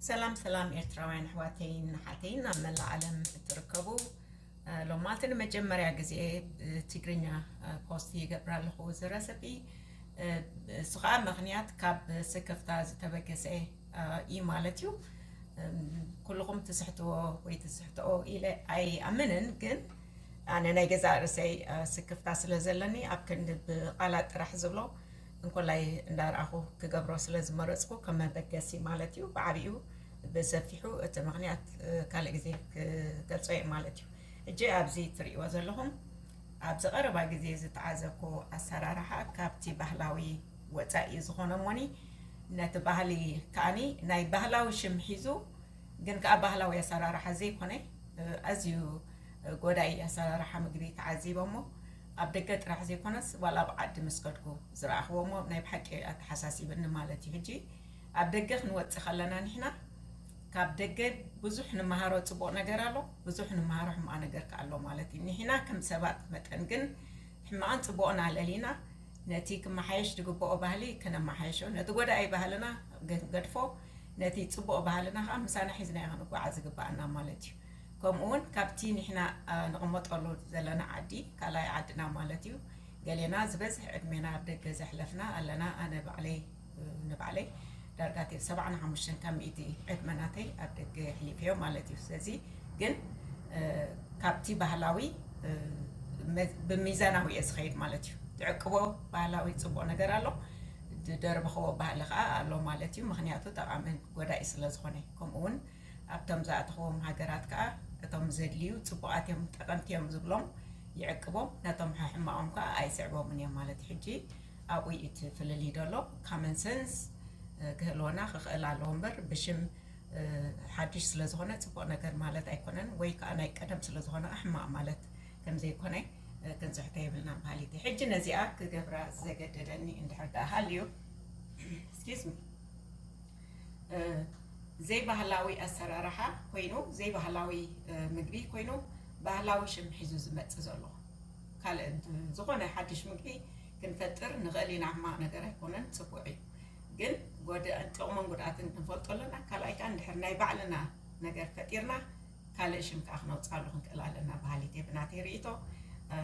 ሰላም ሰላም ኤርትራውያን ኣሕዋተይን ንሓተይን ኣብ መላእ ዓለም እትርከቡ ሎማት ንመጀመርያ ግዜ ትግርኛ ፖስት ይገብር ኣለኹ እዚ ረሰፒ እሱ ከዓ ምክንያት ካብ ስክፍታ ዝተበገሰ እዩ ማለት እዩ ኩልኹም ትስሕትዎ ወይ ትስሕትኦ ኢለ ኣይኣምንን ግን ኣነ ናይ ገዛእ ርእሰይ ስክፍታ ስለ ዘለኒ ኣብ ክንዲ ብቓላት ጥራሕ ዝብሎ እንኮላይ እንዳርኣኹ ክገብሮ ስለዝመረፅኩ ከም መበገሲ ማለት እዩ ብዓብኡ ብሰፊሑ እቲ ምክንያት ካልእ ግዜ ክገልፆ እየ ማለት እዩ እጂ ኣብዚ ትርእይዎ ዘለኹም ኣብዚ ቀረባ ግዜ ዝተዓዘብኩ ኣሰራርሓ ካብቲ ባህላዊ ወፃኢ ዝኾነ እሞኒ ነቲ ባህሊ ከዓኒ ናይ ባህላዊ ሽም ሒዙ ግን ከዓ ባህላዊ ኣሰራርሓ ዘይኮነ ኣዝዩ ጎዳኢ ኣሰራርሓ ምግቢ ተዓዚበሞ ኣብ ደገ ጥራሕ ዘይኮነስ ዋላ ኣብ ዓዲ ምስ ከድኩ ዝረኣኽዎ እሞ ናይ ብሓቂ ኣተሓሳሲብኒ ማለት እዩ ሕጂ ኣብ ደገ ክንወጽእ ከለና ንሕና ካብ ደገ ብዙሕ ንመሃሮ ጽቡቕ ነገር ኣሎ ብዙሕ ንመሃሮ ሕማቕ ነገር ከ ኣሎ ማለት እዩ ንሕና ከም ሰባት መጠን ግን ሕማቕን ጽቡቕን ኣለሊና ነቲ ክመሓየሽ ዝግብኦ ባህሊ ከነመሓየሾ ነቲ ጎዳኢ ባህልና ክንገድፎ ነቲ ጽቡቕ ባህልና ከዓ ምሳና ሒዝናዮ ክንጓዓዝ ዝግባኣና ማለት እዩ ከምኡ ውን ካብቲ ኒሕና ንቕመጠሉ ዘለና ዓዲ ካልኣይ ዓድና ማለት እዩ ገሌና ዝበዝሕ ዕድሜና ኣብ ደገ ዘሕለፍና ኣለና ኣነ ባዕለይ ንባዕለይ ዳርጋ ቴብ ሰብዓን ሓሙሽተን ካብ ሚእቲ ዕድመ ናተይ ኣብ ደገ የሕሊፈዮ ማለት እዩ ስለዚ ግን ካብቲ ባህላዊ ብሚዛናዊ እየ ዝኸይድ ማለት እዩ ትዕቅቦ ባህላዊ ፅቡቅ ነገር ኣሎ ድደርብኸዎ ባህሊ ከዓ ኣሎ ማለት እዩ ምክንያቱ ጠቃምን ጎዳኢ ስለ ዝኾነ ከምኡ ውን ኣብቶም ዝኣተኽዎም ሃገራት ከኣ እቶም ዘድልዩ ጽቡቓት እዮም ጠቐምቲ እዮም ዝብሎም ይዕቅቦም ነቶም ሐሕማቖም ከኣ ኣይስዕቦምን እዮም ማለት ሕጂ ኣብኡ እዩ እቲ ፍልልይ ደሎ ካመን ሰንስ ክህልወና ክኽእል ኣለዎ እምበር ብሽም ሓድሽ ስለ ዝኾነ ጽቡቕ ነገር ማለት ኣይኮነን ወይ ከኣ ናይ ቀደም ስለ ዝኾነ ከኣ ሕማቕ ማለት ከም ዘይኮነ ክንጽሕቶ የብልናን በሃሊት እየ ሕጂ ነዚኣ ክገብራ ዘገደደኒ እንድሕር ደኣ ሃልዩ ስኪዝሚ ዘይባህላዊ ኣሰራርሓ ኮይኑ ዘይባህላዊ ምግቢ ኮይኑ ባህላዊ ሽም ሒዙ ዝመፅእ ዘሎ ካልእ ዝኾነ ሓድሽ ምግቢ ክንፈጥር ንኽእል ኢና እማ ነገር ኣይኮነን ፅቡቅ እዩ ግን ጥቕሙን ጉድኣትን ክንፈልጦ ኣለና ካልኣይ ከዓ እንድሕር ናይ ባዕልና ነገር ፈጢርና ካልእ ሽም ከኣ ክነውጽኣሉ ክንክእል ኣለና በሃሊት እየ ብናተይ ርኢቶ።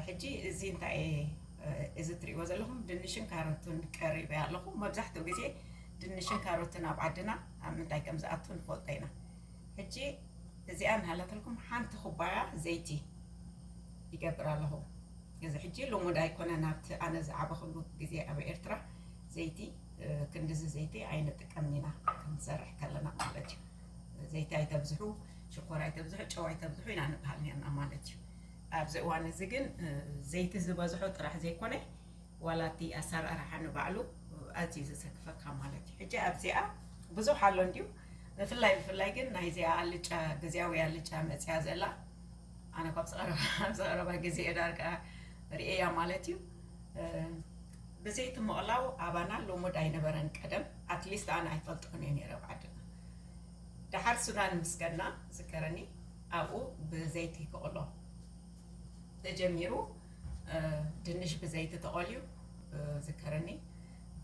ሕጂ እዚ እንታይ እየ እዚ እትርእይዎ ዘለኹም ድንሽን ካሮትን ቀሪበ ኣለኹ። መብዛሕትኡ ግዜ ድንሽን ካሮትን ኣብ ዓድና ኣብ ምንታይ ከም ዝኣቱ ንፈልጦ ኢና። ሕጂ እዚኣ እናሃለትልኩም ሓንቲ ኩባያ ዘይቲ ይገብር ኣለኹ። እዚ ሕጂ ልሙድ ኣይኮነን ኣብቲ ኣነ ዝዓበኹሉ ግዜ ኣብ ኤርትራ ዘይቲ ክንድዚ ዘይቲ ኣይንጥቀምን ኢና ክንሰርሕ ከለና ማለት እዩ። ዘይቲ ኣይተብዝሑ፣ ሽኮር ኣይተብዝሑ፣ ጨው ኣይተብዝሑ ኢና ንብሃል ኔርና ማለት እዩ። ኣብዚ እዋን እዚ ግን ዘይቲ ዝበዝሖ ጥራሕ ዘይኮነ ዋላ እቲ ኣሰራርሓ ንባዕሉ ኣዝዩ ዘሰክፈካ ማለት እዩ። ሕጂ ኣብዚኣ ብዙሕ ኣሎ እንድዩ ብፍላይ ብፍላይ ግን ናይዚኣ ኣልጫ ግዝያዊ ኣልጫ መፅያ ዘላ ኣነ ካብ ዝቐረባ ግዜ ዳርጋ ርእየያ ማለት እዩ። ብዘይቲ ምቕላው ኣባና ልሙድ ኣይነበረን ቀደም ኣትሊስት ኣነ ኣይፈልጦን እየ ነይረ ኣብ ዓድና ደሓር ሱዳን ምስ ከድና ዝከረኒ ኣብኡ ብዘይቲ ክቕሎ ተጀሚሩ ድንሽ ብዘይቲ ተቖልዩ ዝከረኒ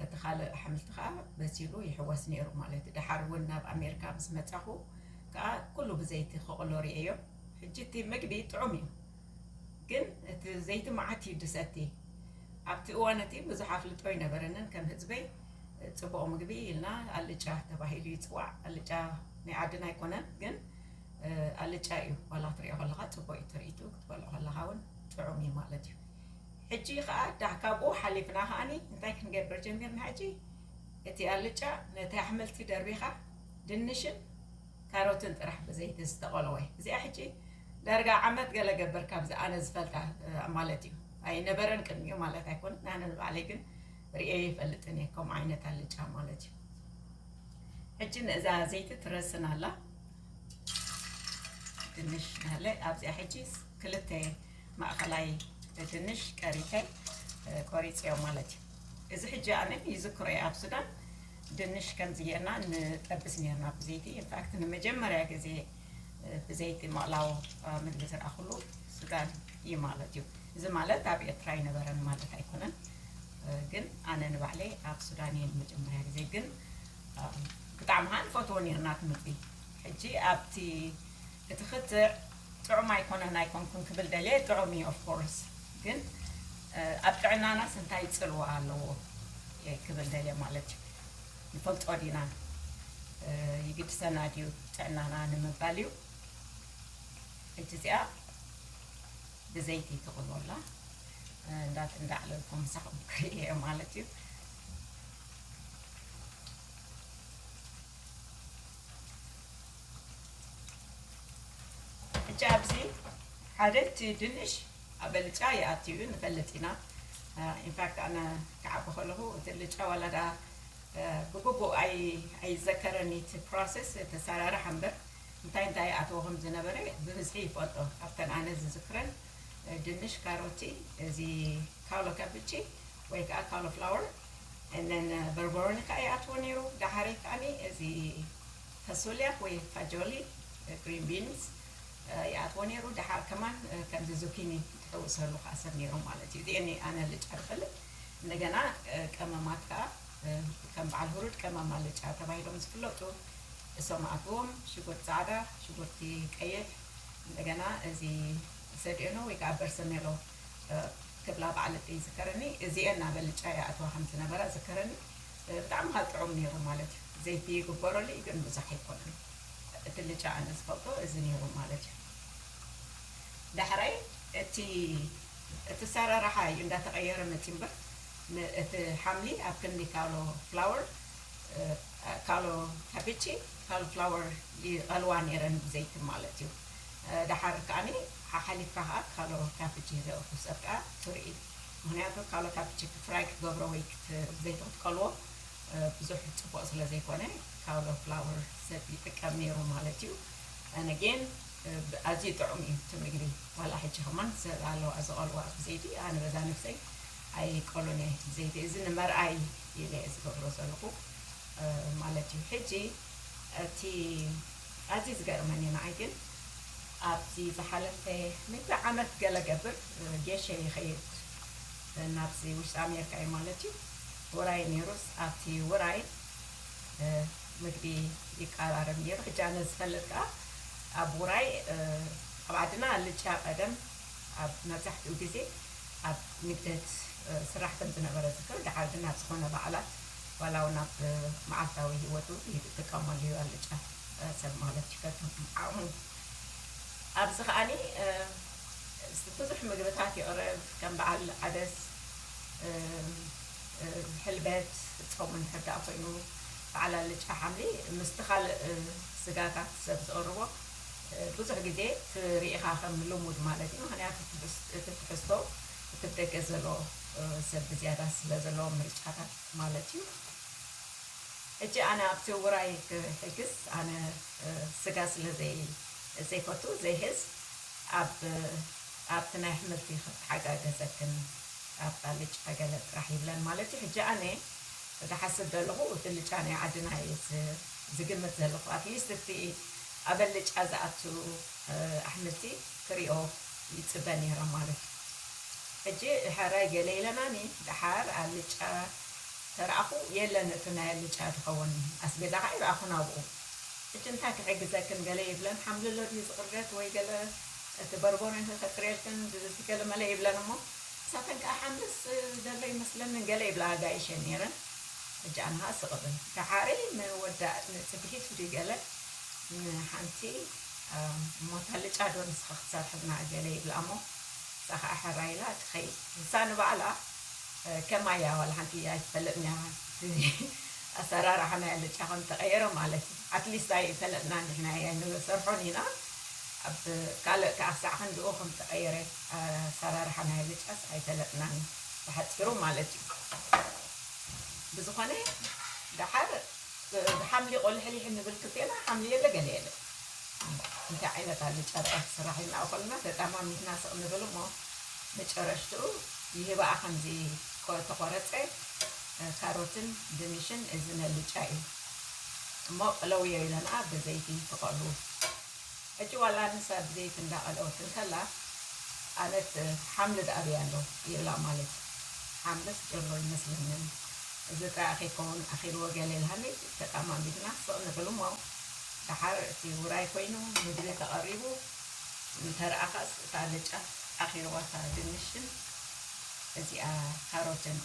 እቲ ካልእ ኣሕምልቲ ከዓ በሲሉ ይሕወስ ነይሩ ማለት እዩ ደሓር እውን ናብ ኣሜሪካ ምስ መፃኹ ከዓ ኩሉ ብዘይቲ ክቕሎ ርእየዮ ሕጂ እቲ ምግቢ ጥዑም እዩ ግን እቲ ዘይቲ መዓት እዩ ድሰቲ ኣብቲ እዋን እቲ ብዙሕ ኣፍልጦ ኣይነበረንን ከም ህዝበይ ፅቡቅ ምግቢ ኢልና ኣልጫ ተባሂሉ ይፅዋዕ ኣልጫ ናይ ዓድና ኣይኮነን ግን ኣልጫ እዩ ዋላ ክትሪኦ ከለካ ፅቡቅ እዩ ትርኢቱ ክትበልዖ ከለካ እውን ጥዑም እዩ ማለት እዩ ሕጂ ከዓ ዳሕ ካብኡ ሓሊፍና ከዓኒ እንታይ ክንገብር ጀሚርና ሕጂ እቲ ኣልጫ ነቲ ኣሕምልቲ ደርቢካ ድንሽን ካሮትን ጥራሕ ብዘይቲ ዝተቆለወ እዚኣ ሕጂ ዳርጋ ዓመት ገለ ገበር ካብዚ ኣነ ዝፈልጣ ማለት እዩ ኣይነበረን ቅድሚኡ ማለት ኣይኮነት ኣነ ንባዕለይ ግን ርኤ ይፈልጥን እየ ከምኡ ዓይነት ኣልጫ ማለት እዩ ሕጂ ንእዛ ዘይቲ ትረስን ኣላ ድንሽ ናለ ኣብዚኣ ሕጂ ክልተ ማእኸላይ ድንሽ ቀሪተ ቆሪፅዮ ማለት እዩ እዚ ሕጂ ኣነ ይዝክሮ እየ ኣብ ሱዳን ድንሽ ከምዚ ጌርና ንጠብስ ኔርና ብዘይቲ ኢንፋክት ንመጀመርያ ግዜ ብዘይቲ ምቕላው ምግቢ ዝረኣኹሉ ሱዳን እዩ ማለት እዩ እዚ ማለት ኣብ ኤርትራ ኣይነበረን ማለት ኣይኮነን ግን ኣነ ንባዕለይ ኣብ ሱዳን እየ ንመጀመርያ ግዜ ግን ብጣዕሚ ከዓ ንፈትዎ ኔርና እቲ ምግቢ ሕጂ ኣብቲ እቲ ክትዕ ጥዑም ኣይኮነን ኣይኮንኩን ክብል ደልየ ጥዑም እዩ of course ግን ኣብ ጥዕናናስ እንታይ ጽልዋ ኣለዎ እየ ክብል ደልየ ማለት እዩ ንፈልጦ ዲና ይግድሰና ድዩ ጥዕናና ንምባል እዩ ሕጂ እዚኣ ብዘይቲ ትቕሎላ እንዳት እንዳዕለልኩም ምሳኹም ክርኢ እየ ማለት እዩ ሕጂ ኣብዚ ሓደ እቲ ድንሽ ኣብ ኣልጫ ይኣቱ እዩ ንፈልጥ ኢና ኢንፋክት ኣነ ክዓቢ ከለኹ እቲ ኣልጫ ዋላ ድኣ ብግቡእ ኣይዘከረን እቲ ፕሮሰስ እቲ ኣሰራርሓ እምበር እንታይ እንታይ ይኣትዎ ከም ዝነበረ ብብዝሒ ይፈልጦ ኣብተን ኣነ ዝዝክረን ድንሽ ካሮቲ እዚ ካውሎ ካብቺ ወይ ከዓ ካውሎ ፍላወር እነን በርበሮኒ ከዓ ይኣትዎ ነይሩ ዳሓረይ ከዓኒ እዚ ፈሶልያ ወይ ፋጆሊ፣ Green Beans፣ ይኣትዎ ነይሩ፣ ደሓር ከማን ከምዚ ዙኪኒ ትሕውሰሉ ከኣ ሰብ ነይሮም ማለት እዩ። እዚኤን እየ ኣነ ኣልጫ ዝፈልጥ። እንደገና ቀመማት ከኣ ከም በዓል ሁሩድ ቀመም ኣልጫ ተባሂሎም ዝፍለጡ እሶም ኣትዎም፣ ሽጉርቲ ጻዕዳ፣ ሽጉርቲ ቀይሕ፣ እንደገና እዚ ሰድኤኖ ወይ ከኣ በርሰሜሎ ክብላ በዓል እደይ ይዝከረኒ፣ እዚኤን ኣብ ኣልጫ ይኣትዋ ከም ዝነበራ እዝከረኒ። ብጣዕሚ ከኣ ጥዑም ኔሩ ማለት እዩ ዘይቲ ይግበረሉ እዩ ግን ብዙሕ ኣይኮነን እቲ ልጫ ኣነ ዝፈልጦ እዚ ኔሩ ማለት እዩ ዳሕራይ እቲ እቲ ኣሰራርሓ እዩ እንዳተቀየረ መጽዩ እምበር እቲ ሓምሊ ኣብ ክንዲ ካሎ ፍላወር ካሎ ካቢቺ ካሎ ፍላወር ይቀልዋ ኔረን ብዘይቲ ማለት እዩ ዳሓር ከኣ ሓሓሊፍካ ከኣ ካሎ ካቢቺ ዘእቱ ሰብ ከኣ ትሪኢ ምክንያቱ ካልኦት ኣብቲ ችክ ትራይ ክትገብሮ ወይ ክትዘይቲ ክትቀልዎ ብዙሕ ፅቡቅ ስለ ዘይኮነ ካውሎ ፍላወር ሰብ ይጥቀም ነይሩ ማለት እዩ and again ኣዝዩ ጥዑም እዩ እቲ ምግቢ ዋላ ሕጂ ከማን ሰብ ኣለዋ ዝቀልዋ ብዘይቲ ኣነ በዛ ነብሰይ ኣይቀሎን እየ ብዘይቲ እዚ ንመርኣይ ኢለ ዝገብሮ ዘለኹ ማለት እዩ ሕጂ እቲ ኣዝዩ ዝገርመኒ ንዓይ ግን ኣብዚ ዝሓለፈ ሚእቲ ዓመት ገለ ገብር ጌሸ ይኸይድ ናብዚ ውሽጢ ኣሜርካ እዩ ማለት እዩ ውራይ ኔሩስ ኣብቲ ውራይ ምግቢ ይቃራረብ ኔሩ ሕጂ ኣነ ዝፈልጥ ከኣ ኣብ ውራይ ኣብ ዓድና ኣልጫ ቀደም ኣብ መብዛሕትኡ ግዜ ኣብ ንግደት ዝስራሕ ከም ዝነበረ እዝክር ደሓር ግን ኣብ ዝኾነ በዓላት ዋላ ውን ኣብ መዓልታዊ ሂወቱ ይጥቀመሉ እዩ ኣልጫ ሰብ ማለት እዩ ከከም ዓቅሙ ኣብዚ ከኣኒ ብዙሕ ምግብታት ይቅርብ ከም በዓል ዓደስ ሕልበት ጾም እንድሕር ኮይኑ በዓል ኣልጫ ሓምሊ ምስቲ ካልእ ስጋታት ሰብ ዝቅርቦ ብዙሕ ግዜ ትሪኢኻ ከም ልሙድ ማለት እዩ ምክንያቱ እቲ ትሕዝቶ እቲ ብደገ ዘሎ ሰብ ብዝያዳ ስለ ዘለዎም ምርጫታት ማለት እዩ ሕጂ ኣነ ኣብቲ ውራይ ክሕግዝ ኣነ ስጋ ስለ ዘይፈቱ ዘይሕዝ ኣብ ኣብቲ ናይ ኣሕምልቲ ክተሓጋገዘክን ኣብ ኣልጫ ገለ ጥራሕ ይብለን ማለት እዩ ሕጂ ኣነ ድሓስብ ደለኹ ድልጫ ናይ ዓድና እየ ዝግምት ዘለኹ ኣትሊስት እቲ ኣብ ኣልጫ ዝኣቱ ኣሕምልቲ ክሪኦ ይጽበ ኔረ ማለት እዩ ሕጂ ሐራይ ገለ ኢለናኒ ደሓር ኣልጫ ተራኣኹ የለን እቲ ናይ ኣልጫ ዝኸወን ኣስቤዛ ከኣ ኣይረኣኹን ኣብኡ ሕጂ እንታይ ክሕግዘክን ገለ ይብለን ሓምልሎ ድዩ ዝቅረት ወይ ገለ እቲ በርቦኖ ከጥርየልክን እዚ ገለ መለ ይብለን እሞ ንሳተን ከኣ ሓምልስ ዘሎ ኣይመስለንን ገለ ይብላ ኣጋይሸይ ኔረን ሕጂ ኣነ ከኣ ስቅ እብል ደሓርይ ምወዳእ ጽግሒት ድዩ ገለ ንሓንቲ እሞ እታ ልጫ ዶ ንስኻ ክትሰርሐልና ገለ ይብላ እሞ እታ ኸኣ ሕራይ ኢላ ትኸይድ ንሳ ንባዕላ ከማይ እያ ዋላ ሓንቲ ኣይትፈልጥን እያ እቲ ኣሰራርሓ ናይ ኣልጫ ከም ተቐየረ ማለት እዩ ኣትሊስት ኣይፈለጥናን ንሕና እያ ንሰርሖን ኢና ኣብ ካልእ ከኣ ክሳዕ ክንድኡ ከም ተቐየረ ኣሰራርሓ ናይ ኣልጫስ ኣይፈለጥናን ብሓጺሩ ማለት እዩ ብዝኾነ ደሓር ብሓምሊ ቆሊሕሊሕ እንብል ክልቴና ሓምሊ የለ ገለ የለ እንታይ ዓይነት ኣልጫ ደኣ ክስራሕ ኢልና ኦኮልና ተጠማሚትና ስቅ ንብል እሞ መጨረሽትኡ ይህባኣ ከምዚ ተቆረጸ ካሮትን ድንሽን እዚ ነልጫ እዩ እሞ ቅለውዮ ኢለናኣ በዘይቲ ተቆሉ ሕጂ ዋላ ንሳ ብዘይቲ እንዳ ቀለወት እንከላ ኣነት ሓምሊ ድኣ ኣብይ ኣሎ ይብላ ማለት ሓምልስ ጀሎ ኣይመስለንን እዚ ጥራይ ኣከይከውን ኣኪልዎ ገለ ኢልሃኒ ተቃማሚትና ስቅ ንብል እሞ ድሓር እቲ ውራይ ኮይኑ ምግቢ ተቀሪቡ እንተርኣካስ እታ ኣልጫ ኣኪልዋ እታ ድንሽን እዚኣ ካሮትን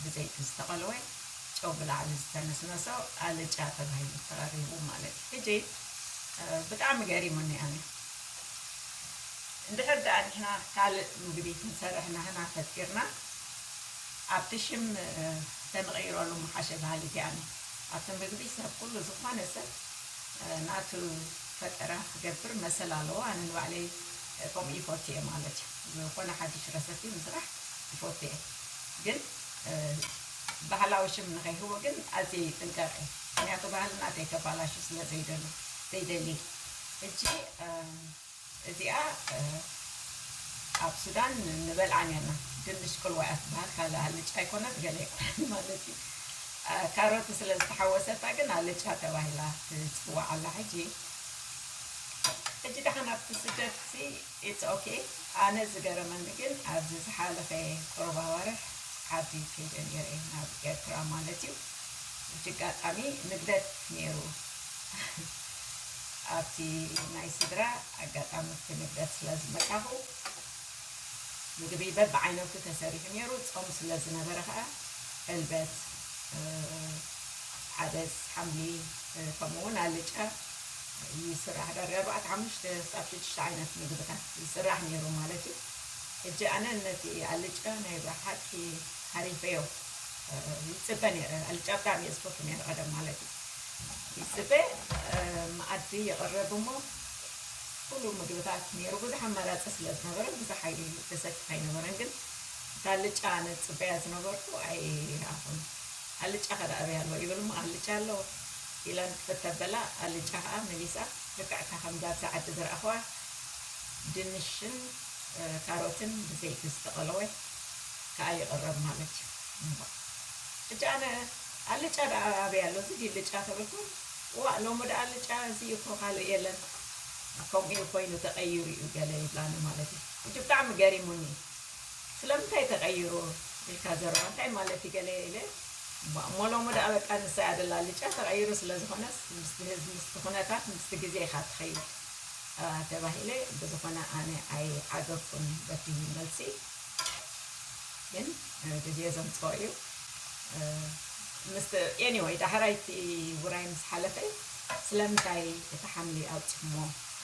ብዘይቲ ዝተቀለወ ጨው ብላዕሊ ዝተነስነሶ ኣልጫ ተባሂሉ ተቀሪቡ ማለት እዩ ሕጂ ብጣዕሚ ገሪሙኒ ኣነ እንድሕር ደኣ ንሕና ካልእ ምግቢ ክንሰርሕ ናህና ፈኪርና ኣብቲ ሽም ተንቕይረሉ ምሓሸ በሃሊት እየ ኣነ ኣብቲ ምግቢ ሰብ ኩሉ ዝኾነ ሰብ ናቱ ፈጠራ ክገብር መሰል ኣለዎ ኣነ ንባዕለይ ከምኡ ይፈቱ እየ ማለት እዩ ዝኾነ ሓድሽ ረሰፒ ምስራሕ ይፈቱ እየ ግን ባህላዊ ሽም ንኸይህቦ ግን ኣዝየ ይጥንቀቕ እየ ምክንያቱ ባህል ናተይ ከባላሹ ስለ ዘይደሉ ዘይደሊ ሕጂ እዚኣ ኣብ ሱዳን ንበልዓ ኔርና ድንሽ ቅልዋ እያ ትበሃል ካልእ ኣልጫ ኣይኮነት ገለ ኣይኮነን ማለት እዩ ካሮት ስለ ዝተሓወሰታ ግን ኣልጫ ተባሂላ ትጽዋዕ ኣላ ሕጂ ሕጂ ደሓን ኣብቲ ስደት It's ok ኣነ ዝገረመኒ ግን ኣብዚ ዝሓለፈ ቁሩብ ኣዋርሕ ዓዲ ከይደ ኔረ ናብ ኤርትራ ማለት እዩ ብጅጋጣሚ ንግደት ኔሩ ኣብቲ ናይ ስድራ ኣጋጣሚ ኣብቲ ንግደት ስለ ዝመጻኹ ምግቢ በብዓይነቱ ተሰሪሑ ኔሩ ጾም ስለ ዝነበረ ከኣ ዕልበት ዓደስ ሓምሊ ከምኡውን ኣልጫ ይስራሕ ዳርጋ ኣርባዕተ ሓሙሽተ ክሳብ ሽዱሽተ ዓይነት ምግብታት ይስራሕ ኔሩ ማለት እዩ ሕጂ ኣነ ነቲ ኣልጫ ናይ ብሓቂ ሃሪፈዮ ይጽበ ኔረ ኣልጫ ብጣዕሚ እየ ዝፈቱ ኔረ ቀደም ማለት እዩ ይጽበ መኣዲ ይቕረብ እሞ ኩሉ ምግብታት ኔሩ ብዙሕ ኣማራጺ ስለ ዝነበረ ብዙሕ ኣይተሰክፍ ኣይነበረን ግን እታ ኣልጫ ኣነ ዝጽበያ ዝነበርኩ ኣይረኣኹን ኣልጫ ከ ዳኣ ኣበይ ኣሎ ይብል እሞ ኣልጫ ኣሎ ኢላ ንክፍከር በላ ኣልጫ ከኣ መሊሳ ልክዕ'ታ ከምዛብዚ ዓዲ ዝረኣክዋ ድንሽን ካሮትን ብዘይቲ ዝተቀለወ ከኣ ይቅረብ ማለት እዩ እሞ ሕጂ ኣነ ኣልጫ ደኣ ኣበይ ኣሎ እዚ ድዩ ልጫ ተበልኩም እዋእ ሎሚ ደኣ ኣልጫ እዚ እዩ እኮ ካልእ የለን ከምኡ እዩ ኮይኑ ተቀይሩ እዩ ገለ ይብላኒ ማለት እዩ ሕጂ ብጣዕሚ ገሪሙኒ ስለምንታይ ተቀይሩ ኢልካ ዘረባ እንታይ ማለት እዩ ገለ ኢለ እባ እሞ ሎሚ ደኣ በቃ ንሳ እያ ደላ ኣልጫ ተቀይሩ ስለ ዝኮነስ ምስቲ ህዝቢ ምስቲ ኩነታት ምስቲ ግዜ ኢካ ትከይድ ተባሂለ ብዝኮነ ኣነ ኣይዓገብኩን በቲ መልሲ ግን ግዜ ዘምጽኦ እዩ ምስቲ ኤኒወይ ዳሕራይ እቲ ውራይ ምስ ሓለፈ ስለምንታይ እቲ ሓምሊ ኣውጺኹሞ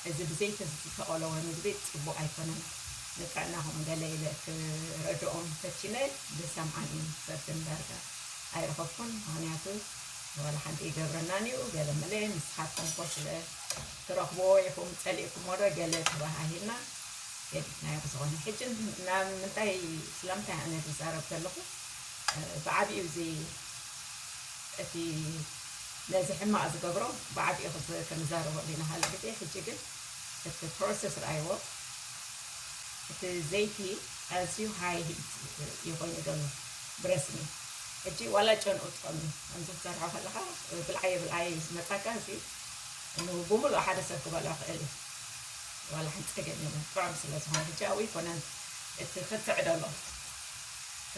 እዚ ብዘይቲ ዝተቆለወ ምግቢ ጽቡቅ ኣይኮነን ንጥዕናኹም ገለ ኢለ ክረድኦም ፈቲነ ዝሰምዓኒ ሰብ ግን ዳርጋ ኣይረኸብኩን ምኽንያቱ ዋላ ሓንቲ ይገብረናን እዩ ገለ መለ ንስኻትኩም እኮ ስለ ትረኽብዎ ኢኹም ጸሊእኩሞ ዶ ገለ ተባሃሂልና ገዲፍናዮ ብዝኾነ ሕጂ ናብ ምንታይ ስለምንታይ ኣነ ዝዛረብ ዘለኹ ብዓቢኡ እዚ እቲ ነዚ ሕማቕ ዝገብሮ ብዓቢኡ ክንዛረበሉ ኢና ካልእ ግዜ ሕጂ ግን እቲ ፕሮሰስ ርኣይዎ እቲ ዘይቲ ኣዝዩ ሃይ ሂት እዩ ኮይኑ ዘሎ ብረስኒ ሕጂ ዋላ ጨንኡ ትቐኑ ከምዚ ክትሰርሖ ከለኻ ብልዓየ ብልዓየ እዩ ዝመጻካ እዚ ብሙሉእ ሓደ ሰብ ክበልዖ ክእል እዩ ዋላ ሓንቲ ጸገም የለን ጥዑም ስለ ዝኾነ ሕጂ ኣብኡ ይኮነን እቲ ክትዕ ደሎ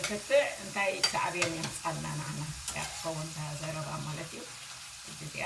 ክትዕ እንታይ ሳዕቤን የምጻልና ንዓና እያ ትኸውን እታ ዘረባ ማለት እዩ ሕጂ እዚኣ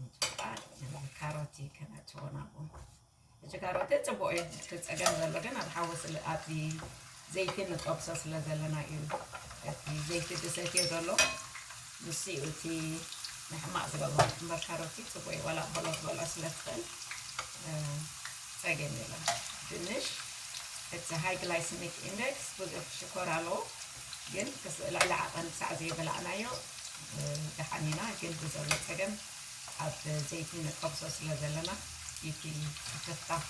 ምጭቃር ንብሎም ካሮቲ ከነእትዎ ናብኡ እዚ ካሮቲ ፅቡቅ እዩ እቲ ፀገም ዘሎ ግን ኣብ ሓዊ ስለ ኣብዚ ዘይቲ ንጠብሶ ስለ ዘለና እዩ እቲ ዘይቲ ዝሰትዮ ዘሎ ንሱ እዩ እቲ ንሕማቅ ዝገብሮ እምበር ካሮቲ ፅቡቅ እዩ ዋላ ቆሎ ክትበልዖ ስለ ትኽእል እ፣ ፀገም የለን ድንሽ እቲ ሃይ ግላይሰሚክ ኢንደክስ ብዙሕ ሽኮር ኣለዎ ግን ክስ- ልዕሊ ዓቐን ክሳዕ ዘይበላዕናዮ ደሓን ኢና ግን ብዘሎ ፀገም ኣብ ዘይቲ ንጠብሶ ስለ ዘለና ይቲ ይፍታሕ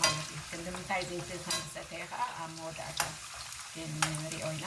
ማለት እዩ ክንዲምንታይ ዘይቲ ከምዝሰተየ ከዓ ኣብ መወዳእታ ክንሪኦ ኢና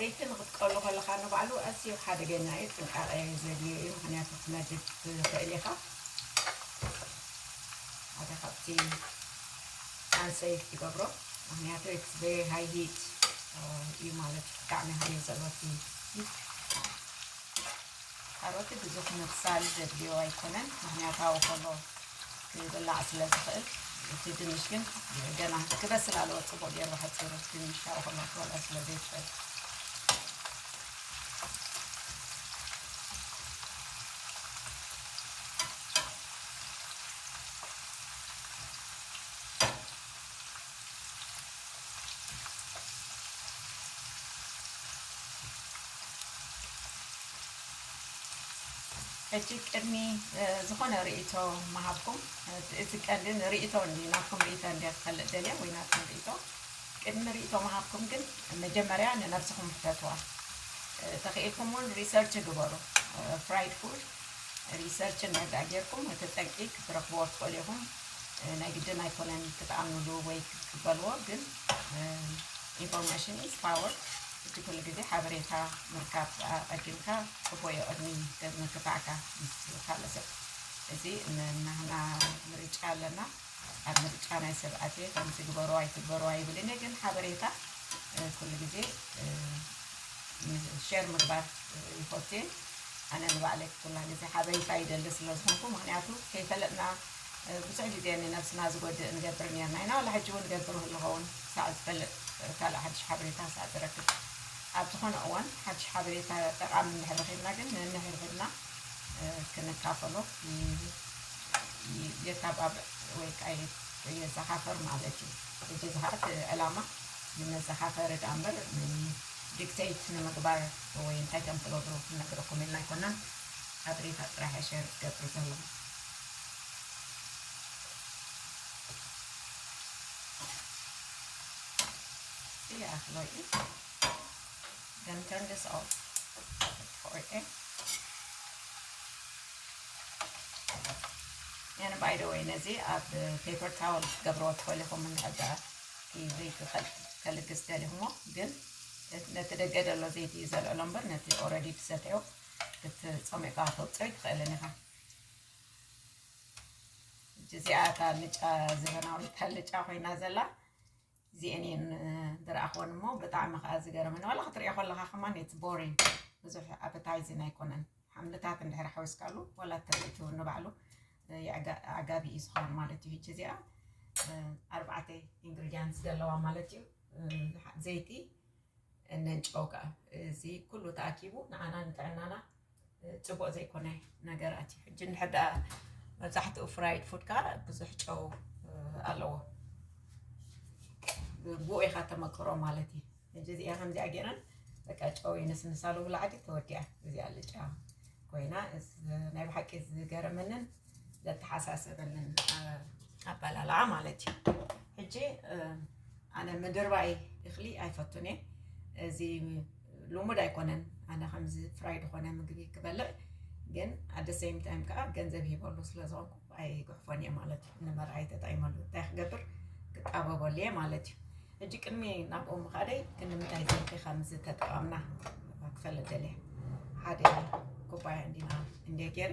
ዘይቲ ንክትቀሉ ከለካ ንባዕሉ ኣዝዩ ሓደገኛ እዩ ጥንቃቐ ዘድልዮ እዩ ምክንያቱ ክትነድድ ትኽእል ኢኻ ሓደ ካብቲ ኣንሰይ ትገብሮ ምክንያቱ ኢትስ ቨሪ ሃይ ሂት እዩ ማለት እዩ ብጣዕሚ ሃይል ዘለዎ እቲ ሂት ካሮት ብዙሕ ምብሳል ዘድልዮ ኣይኮነን ምኽንያታዊ ኮሎ ክብላዕ ስለ ዝኽእል እቲ ድንሽ ግን ገና ክበስል ኣለዎ ፅቡቅ ገይሩ ሓፂሩ ድንሽ ካብ ኮሎ ክበልዖ ስለ ዘይትኽእል ሕጂ ቅድሚ ዝኾነ ርእይቶ ምሃብኩም እቲ ቀንዲ ንርእይቶ እንዲ ናትኩም ርእይቶ እንዲ ክፈልጥ ደልየ ወይ ናትኩም ርእይቶ ቅድሚ ርእይቶ ምሃብኩም ግን መጀመርያ ንነብስኹም ሕተትዋ ተኽኢልኩም እውን ሪሰርች ግበሩ ፍራይድ ፉድ ሪሰርች እንዳዳ ጌርኩም እቲ ጠንቂ ክትረኽብዎ ትኽእሉ ኢኹም ናይ ግድን ኣይኮነን ክትኣምንሉ ወይ ክትቅበልዎ ግን ኢንፎርሜሽን ኢዝ ፓወር እቲ ኩሉ ግዜ ሓበሬታ ምርካብ ኣቐዲምካ ጽቡቕ እዩ ቅድሚ ምክፋዕካ ምስ ካልእ ሰብ እዚ ናህና ምርጫ ኣለና ኣብ ምርጫ ናይ ሰብ ኣትየ ከምዚ ግበሩ ኣይትግበሩ ኣይብልን እየ ግን ሓበሬታ ኩሉ ግዜ ሸር ምግባር ይፈቱ እየ ኣነ ንባዕለይ ኩላ ግዜ ሓበሬታ ይደሊ ስለ ዝኾንኩ ምክንያቱ ከይፈለጥና ብዙሕ ግዜ ንነብስና ዝጎድእ ንገብር ኔርና ኢና ዋላ ሕጂ ውን እገብር እህሉ ኸውን ክሳዕ ዝፈልጥ ካልእ ሓድሽ ሓበሬታ ክሳዕ ዝረክብ ኣብ ዝኾነ እዋን ሓድሽ ሓበሬታ ጠቃሚ እንድሕር ረኺብና ግን ነንሕድሕድና ክንካፈሎ የተባብዕ ወይ ከዓ የዘኻኸር ማለት እዩ። እዚ ከዓ እቲ ዕላማ ንመዘኻኸሪ ድኣ እምበር ዲክተይት ንምግባር ወይ እንታይ ከም ትገብሩ ክንነግረኩም ኢልና ኣይኮናን። ሓበሬታ ጥራሕ እየ ሸር ክገብር ዘለኹ። ባይደወይ ነዚ ኣብ ፔፐር ታወል ክትገብርዎ ትኽእል ኢኹም እንድሕዳ ዘይት ከልግስ ደሊኹሞ ግን ነቲ ደገ ዘሎ ዘይቲ እዩ ዘልዕሎ እምበር ነቲ ኦረዲ ትሰትዮ ክትፀሚቕካ ተውፅኦ ይትኽእልን ኢኻ እጅ እዚኣ እታ ኣልጫ ዘበናዊት ኣልጫ ኮይና ዘላ እዚአን እየን ዝረኣኽወን እሞ ብጣዕሚ ከዓ ዝገረመኒ ዋላ ክትሪኦ ከለካ ከማን እቲ ቦሪን ብዙሕ ኣበታይዝን ኣይኮነን ሓምልታት እንድሕር ሓዊስካሉ ዋላ ትርኢት እውን ንባዕሉ ኣጋቢ እዩ ዝኸውን ማለት እዩ እጅ እዚኣ ኣርባዕተ ኢንግሪዲያንት ዘለዋ ማለት እዩ ዘይቲ ነንጨው ከኣ እዚ ኩሉ ተኣኪቡ ንዓና ንጥዕናና ጽቡቕ ዘይኮነ ነገራት እዩ ሕጂ እንድሕር ደኣ መብዛሕትኡ ፍራይድ ፉድ ከኣ ብዙሕ ጨው ኣለዎ ብኡ ኢኻ ተመክሮ ማለት እዩ ሕጂ እዚኣ ከምዚኣ ገይረን በቃ ጨው ይንስንሳሉ ብላዕዲ ተወዲኣ እዚኣ ልጫ ኮይና ናይ ብሓቂ ዝገረመንን ዘተሓሳሰበንን ኣባላልዓ ማለት እዩ ሕጂ ኣነ ምድርባይ እኽሊ ኣይፈቱን እየ እዚ ልሙድ ኣይኮነን ኣነ ከምዚ ፍራይ ዝኾነ ምግቢ ክበልዕ ግን ኣደ ሰይም ታይም ከዓ ገንዘብ ሂበሉ ስለ ዝኾንኩ ኣይጉሕፎን እየ ማለት እዩ ንመርዓይ ተጠይመሉ እንታይ ክገብር ክጣበበሉ እየ ማለት እዩ ሕጂ ቅድሚ ናብኡ ምኻደይ ክንምታይ ዘይቲ ከም ዝተጠቐምና ክፈልጥ ደልየ ሓደ ኩባያ እንዲና እንዲየ ገይረ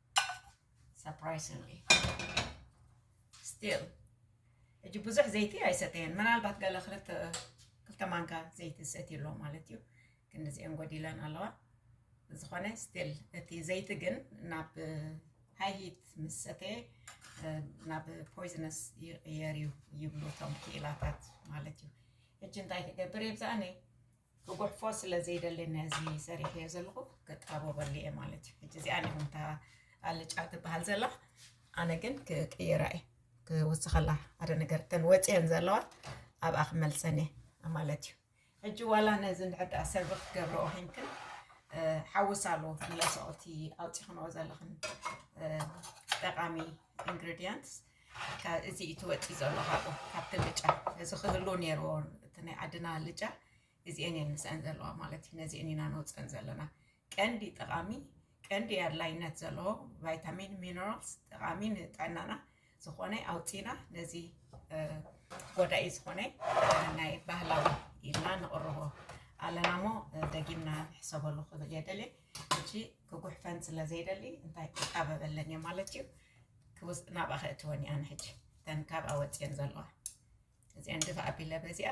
surprisingly still ሕጂ ብዙሕ ዘይቲ ኣይሰተየን ምናልባት ገለ ክልተ ክልተ ማንካ ዘይቲ ዝሰትዩ ኣሎ ማለት እዩ ግን እዚአን ጎዲለን ኣለዋ ዝኾነ ስቲል እቲ ዘይቲ ግን ናብ ሃይ ሂት ምስ ሰተየ ናብ ፖይዝነስ ይቕየር እዩ ይብሉ እቶም ክኢላታት ማለት እዩ ሕጂ እንታይ ክገብር የብዛኣኒ ክጉሕፎ ስለ ዘይደሊ ነዚ ሰሪሐዮ ዘለኹ ክጣበበሉ እየ ማለት እዩ ሕጂ እዚኣ ነምታ ኣልጫ ትበሃል ዘላ ኣነ ግን ክቅይራ እየ ክውስኸላ ሓደ ነገር ተን ወፅየን ዘለዋ ኣብኣ ክመልሰን እየ ማለት እዩ ሕጂ ዋላ ነዚ ንድሕዳ ሰርቪ ክትገብሮ ኮንክን ሓውስ ኣሉ መለሰኦቲ ኣውፂኽንኦ ዘለኽን ጠቃሚ ኢንግሪዲየንትስ እካ እዚ እዩ ትወፅእ ዘሎ ካብኡ ካብቲ ልጫ እዚ ክህሉ ነይርዎ እቲ ናይ ዓድና ልጫ እዚኤን እየን ምስአን ዘለዋ ማለት እዩ ነዚኤን ኢና ነውፅእን ዘለና ቀንዲ ጠቃሚ ቀንዲ ኣድላይነት ዘለዎ ቫይታሚን ሚነራልስ ጠቃሚ ንጥዕናና ዝኾነ ኣውፂና ነዚ ጎዳኢ ዝኾነ ናይ ባህላዊ ኢልና ንቕርቦ ኣለና እሞ ደጊምና ንሕሰበሉ ክብል የደሊ እጂ ክጉሕፈን ስለ ዘይደሊ እንታይ ክጣበበለን እየ ማለት እዩ ክውስ ናብኣ ከእትወን እየ ኣነ ሕጂ እተን ካብኣ ወፅየን ዘለዋ እዚኣን ድፋ ኣቢለ በዚኣ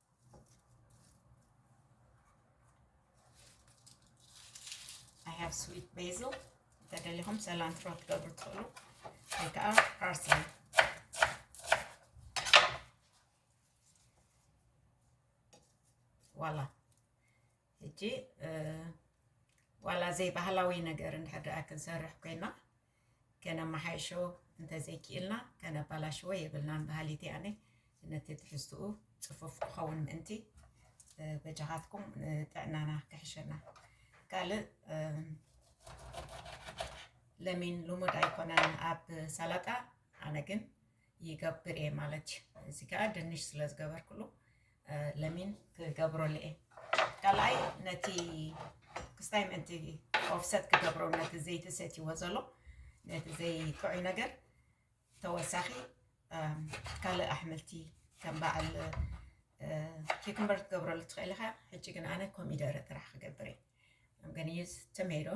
I have sweet basil ተደሊኹም ሰላንትሮ ክትገብሩ ትኽእሉ ወይ ከዓ ፓርስሊ ዋላ ሕጂ ዋላ ዘይባህላዊ ነገር እንድሕር ደኣ ክንሰርሕ ኮይና ከነመሓይሾ እንተዘይኪኢልና ከነባላሽዎ የብልናን በሃሊት እየ ኣነ ነቲ ትሕዝትኡ ፅፉፍ ክኸውን ምእንቲ በጃኻትኩም ጥዕናና ክሕሸና ካልእ ለሚን ልሙድ ኣይኮነን ኣብ ሰላጣ ኣነ ግን ይገብር እየ ማለት እዩ። እዚ ከዓ ድንሽ ስለ ዝገበርኩሉ ለሚን ክገብረሉ እየ። ካልኣይ ነቲ ክስታይ ምእንቲ ኦፍሰት ክገብሮ ነቲ ዘይቲ ሰትይዎ ዘሎ ነቲ ዘይጥዑይ ነገር ተወሳኺ ካልእ ኣሕምልቲ ከም በዓል ኪክምበር ክትገብረሉ ትኽእል ኢኻ። ሕጂ ግን ኣነ ኮሚደረ ጥራሕ ክገብር እየ። I'm gonna use tomato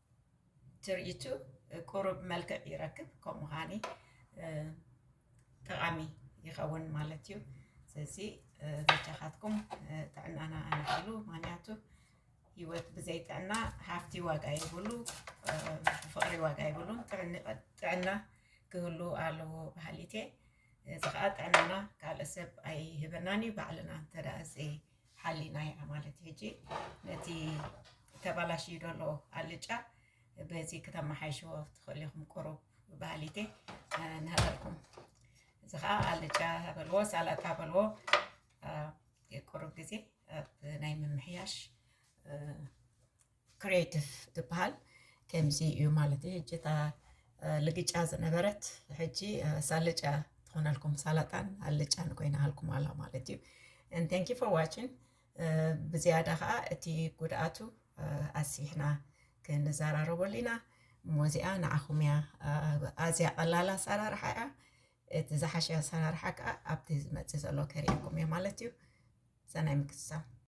ትርኢቱ ቁሩብ መልክዕ ይረክብ ከምኡ ኸዓኒ ጠቓሚ ይኸውን ማለት እዩ ስለዚ በጃኻትኩም ጥዕናና ኣንዕሉ ምክንያቱ ህይወት ብዘይ ጥዕና ሃፍቲ ዋጋ ይብሉ ፍቕሪ ዋጋ ይብሉን ጥዕና ክህሉ ኣለዎ በሃሊት እየ እዚ ከዓ ጥዕናና ካልእ ሰብ ኣይህበናን እዩ ባዕልና እንተደኣ ሓሊና እያ ማለት እዩ ሕጂ ነቲ ተባላሽዩ ዘሎ ኣልጫ በዚ ክተመሓይሽዎ ትኽእሉ ኢኹም ቁሩብ ባህሊቴ ንሃበልኩም እዚ ከዓ ኣልጫ በልዎ ሳላጣ በልዎ ቁሩብ ግዜ ኣብ ናይ ምምሕያሽ ክሬቲቭ ዝበሃል ከምዚ እዩ ማለት እዩ ሕጂ እታ ልግጫ ዝነበረት ሕጂ ሳልጫ ትኾነልኩም ሳላጣን ኣልጫን ኮይና ሃልኩም ኣላ ማለት እዩ ንቴንኪ ፎር ዋችን ብዝያዳ ከዓ እቲ ጉድኣቱ ኣስቢሕና ክንዘራረበሉ ኢና እሞ እዚኣ ንዓኹም እያ ኣዝያ ቀላል ኣሰራርሓ እያ እቲ ዝሓሸ ኣሰራርሓ ከዓ ኣብቲ ዝመፅእ ዘሎ ከርእየኩም እየ ማለት እዩ ሰናይ ምክትታል